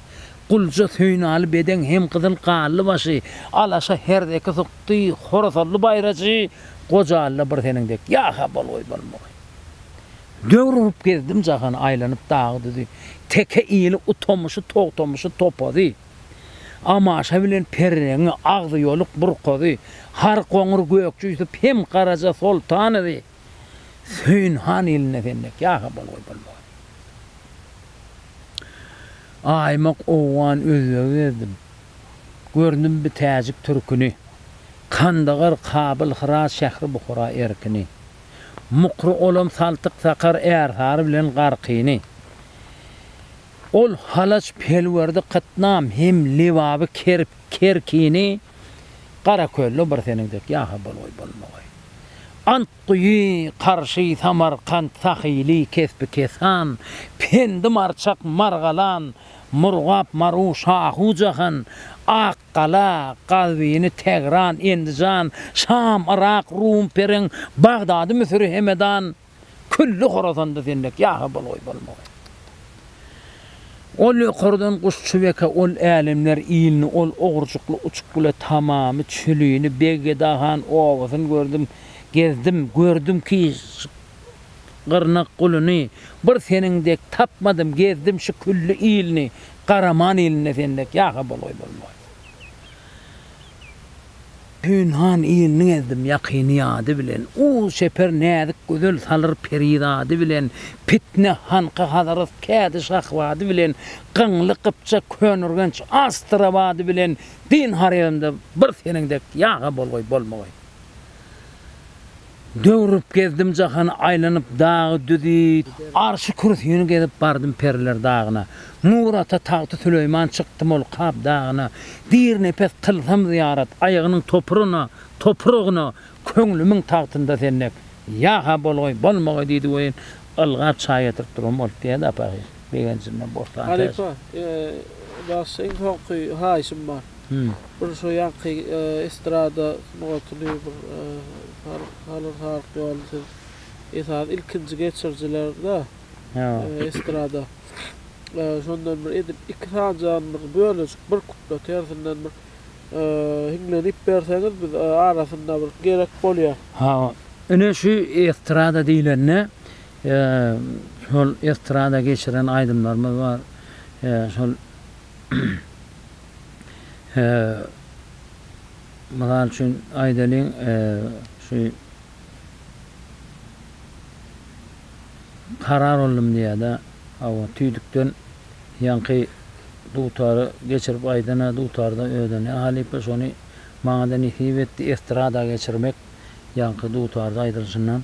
Gulja Söýünaly Bedeň hem Gyzyl Gally başy, Alaşa Herzeki Sukdy, Horasally Baýraçy, Gojalyda bir seniň dek, ýa-ha bolgaý bolmagy. Döwür urup gezdim jahany, aýlanyp dagy-düzi, Teke ili, Utamyşy, Togtamyşy, Topazy, Amaşa bilen Perreňi, Agzyyoluk, Burkazy, Har, Goňur, Gökje Ýusup hem Garaja Soltanowy, Söýün han ilinde sendek ýa-ha bolguly bolmagyn. Aýmak owgan özbegi gezdim. Gördüm bi täjik türkini. Kandagar, Kabyl, Hyrat, Şähri Buhara erkini. Mukry olam saltyk sakar ärsary bilen garkyny. Ol halaç pelwerdi kytnam hem lebaby kerip. Kerkini Garakölde bir seniň dek ýasa bolgaý bolmagy. Antguýy, Karşy, Samarkant, Sahyly, Kesbi Kesan, Pendi Marçak, Margalan, Murgap, Maru, Şahu Jahan, Akgala, Gazwini, Tegran, Endijan, Şam, Yrak, Rum, Pereň, Bagdady, Müsüri, Hemedan, Külli horozanda zendek ýagy bol-oý bolmagy. Ol ýokardan Guşçubeke ol älemler ilini, ol ogrujykly Uçukgüle tamamy çülini, Beggedahan obasyn gördüm, gezdim, gördüm ki ş gyrnak guluny, bir seniň dek tapmadym, gezdim şu külli ilini, Garaman ilinde zendek ýagy bol-oý bolmagy. Pynhan ilini gezdim ýakyny ýady bilen, Uz çeper näzik gözel salyr peri zady bilen, Pitne hanka Hazarat kädi şahbady bilen, Gyňly gypjak Könürgenç Astrabady bilen, Din haremimde bir seniň dek ýa-ha bolgaý, bolmagy. Döwrüp gezdim jahany aýlanyp dagy düzi. Arşy kürsini gezip bardym periler dagyna. Nur ata tagty Süleýman çykdym ol Kap dagyna. Dirnepes kylsam zyýarat aýagynyň topuryna, topragyna, köňlümiň tagtynda sen dek. Ýa-ha bolgaý, bolmagaý diýdi welin, ylgap çaý getirip durgam bolup diýýädi Apagyz. Begenjimden bossan täze. Halypa, bagşy iň soňky haýyşym bar. Bir şu ýaňky estrada sungatyny bir salyr salyk ýoly siz esasy ilkinji geçirijilerda estrada. Şondan bir edip iki sanjagyn bir bölejik bir kuplet hersinden bir hiňlenip berseňiz biz arasynda bir gerek bolýar. Ine şu estrada diýlende He, şol estrada geçiren aýdymlarymyz bar. He, şol He, mysal üçin aýdalyň, e, şu Karar oldum diýýär-de, hawa, tüýdükden ýaňky dutary geçirip aýdan-a, dutarda özüne halypa, şony maňa-da nesip etdi estrada geçirmek, ýaňky dutarda aýdylşyndan.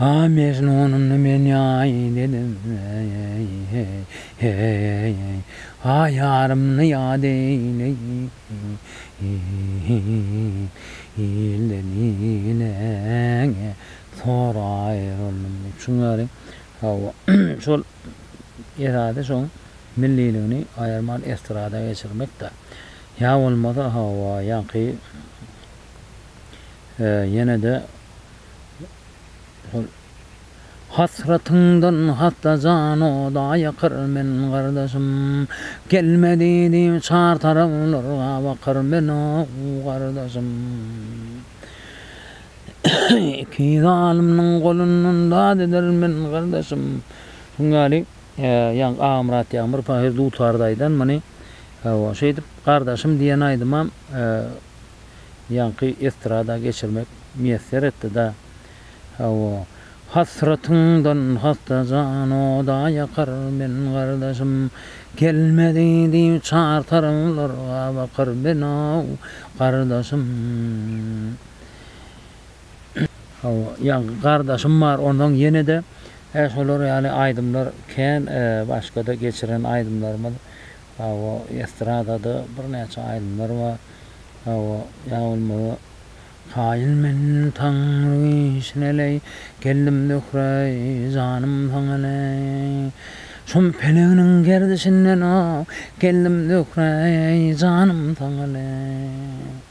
A Mejnunymny men ýaý dedim, eý-eý, heý-eý, A ýarymny ýad eýleýin, ilden ileňe tor aýryldym diýip. Şuň ýaly, hawa, şol esasy şoň milliligini aýyrman estrada geçirmek-de. Ýa bolmasa, hawa, ýaňky ýene-de Hasratyňdan hassa jan oda ýakyr men gardaşym, Gelme diýdi çar taraplar gabakyr men ow gardaşym. Iki zalymnyň golundan dad eder men gardaşym. Şuň ýaly ýaňky Agamyrat Ýagmyr pahyr dutarda aýdan muny. Şeýdip gardaşym diýen aýdymam. ýaňky estrada geçirmek miýesser etdi-da, Hawa, hasratyňdan hassa jan oda ýakar, men gardaşym gelmedi diýip çar taraplarga bakar, men-ow, gardaşym. Hawa, ýaňky gardaşym bar, onsoň ýene-de şolar ýaly aýdymlar kän, başga-da geçiren aýdymlarymyz. Hawa, estradada birnäçe aýdymlar bar. Hawa, ýa bolmasa, Kaýyl men taňry işine-leý, Geldim Zöhre-eý, janym saňa-leý. Şum peleginiň gerdişinden-ow, Geldim Zöhre-eý, janym saňa-leý.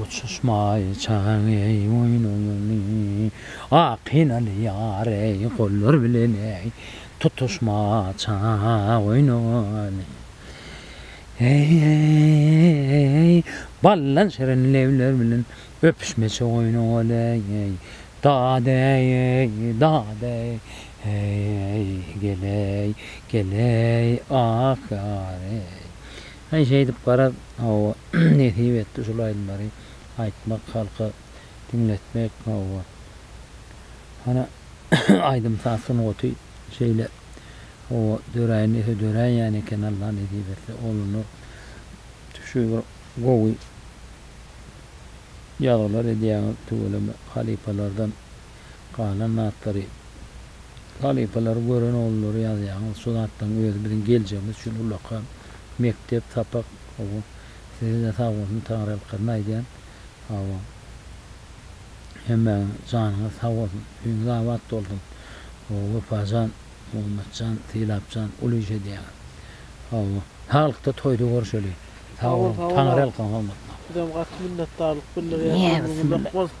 Uçuşmaý çagaň eý boýnuňy, Ak henaly ýar eý gollar bilen eý, Tutuşma çaga goýnuňy. Eý-eý-eý-eý-eý, Ballan şirin lebler bilen, Öpüşmeçe goýnuňy eý, Dad eý-eý, dad eý, Eý-eý, gel eý, gel eý, Ah ýar eý. Eý şeýdip gara hawa. nesip etdi şul aýdymlary aýtmak halka diňletmek hawa hany aýdym saz sungaty şeýle hawa döräýen dese döräýýän eken Allah nesip etse oluna şu bir gowy ýazgylar edýäňiz tüweleme halypalardan galan zatlary halypalary gören oglulary ýazýaňyz şu zatlaryň özi biziň geljegimiz üçin ulaka mekdep sapak hawa sizede sagbolsun taňryýalkazyn aýdýan hawa hemmäňiň janyňyz sagbolsun öýüňiz abat bolsun hawa wepajan Muhammetjan Sylapjan uly iş edýäňiz hawa saglykda toýda görüşeli sagboluň taňryýalkazyn hormatlaň. Bizem gaty minnetdarlyk bildirýäs ömrüňiz uzak bolsun.